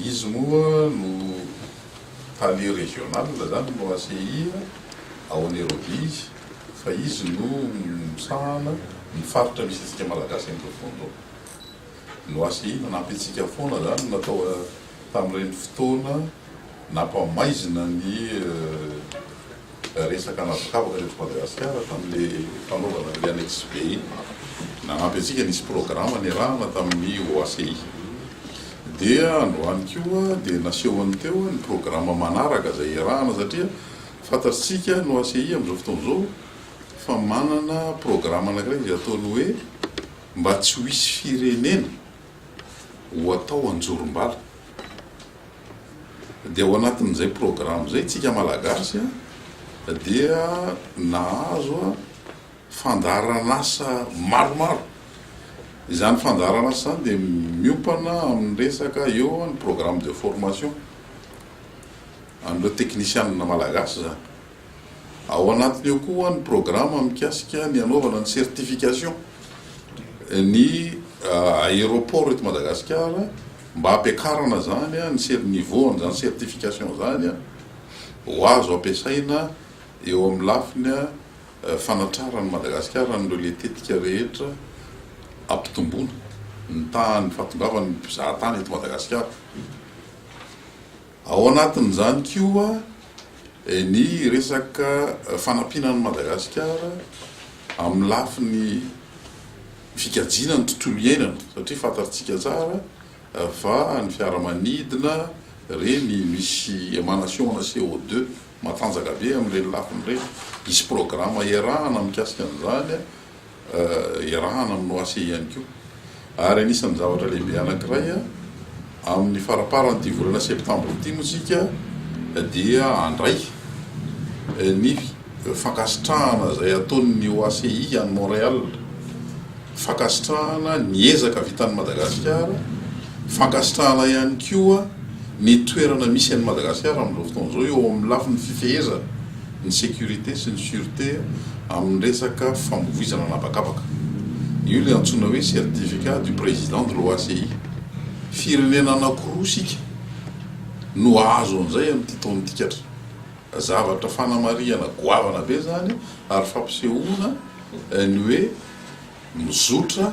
Izy moa no tale regional zany no asehina ao Nairobi izy fa izy no misahana ny faritra misy antsika Malagasy any Betovondo no asehina nanampy antsika foana zany natao tamin'ireny fotoana nampamaizina ny resaka anabakabaka teto Madagasikara tamin'le fanaovana an'le annexe B iny. Nanampy antsika nisy programa niarahana tamin'ny OACI. Dia androany koa dia nasehony teo ny programa manaraka izay iarahana satria fantatsika ny OACI amin'izao fotoana izao fa manana programa anakiray izay ataony hoe mba tsy ho hisy firenena ho atao anjorom-bala. Dia ao anatin'izay programme izay isika Malagasy dia nahazo fandaharan'asa maromaro. Izany fandaharan'asa izany dia miompana amin'ny resaka eo ny programme de formation an'ireo teknisianina Malagasy izany. Ao anatiny ao koa ny programa mikasika ny hanaovana ny certification ny aéroport eto Madagasikara mba hampiakarana izany ny niveau an'izany certification izany ho azo ampiasaina eo amin'ny lafiny fanatraran'i Madagasikara an'ireo letetika rehetra hampitomboana ny tahan'ny fahatongavan'ny mpizahatany eto Madagasikara. Ao anatin'izany koa ny resaka fanampiana an'i Madagasikara amin'ny lafiny fikajiana ny tontolo iainana satria fantatsika tsara fa ny fiaramanidina ireny misy émanation-na CO2 matanjaka be amin'ireny lafiny ireny. Hisy programa iarahana mikasika an'izany. iarahana amin'ny OACI ihany koa ary anisan'ny zavatra lehibe anankiray amin'ny faraparan'ity volana septambra ity moa isika dia handray ny fankasitrahana izay ataon'ny OACI any Montréal, fankasitrahana ny ezaka vitan'i Madagasikara. Fankasitrahana ihany koa ny toerana misy an'i Madagasikara amin'izao fotoana izao eo amin'ny lafiny fifehezana ny sécurité sy ny sûreté amin'ny resaka famoizana an'habakabaka. Io ilay antsoina hoe certificat du président de l'OACI. Firenena anankiroa isika no hahazo an'izay amin'ity taon'ity katra. Zavatra fanamarihana goavana be izany ary fampisehoana ny hoe mizotra.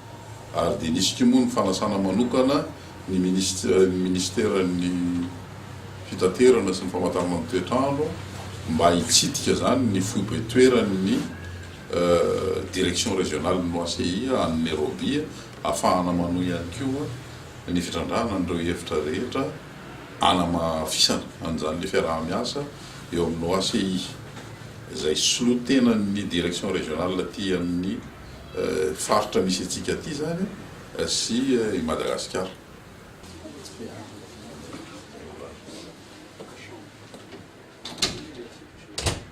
ary dia nisy koa moa ny fanasana manokana ny minisiteran'ny fitaterana sy ny famantarana ny toetr'andro mba hitsidika izany ny foibe toeran'ny direction régionale n'ny OACI any Nairobi ahafahana manohy ihany koa ny fitrandrahana an'ireo hevitra rehetra hanamafisana an'izany ilay fiaraha-miasa eo amin'ny OACI izay solontenan'ny direction régionale aty amin'ny faritra misy antsika aty zany sy i Madagasikara.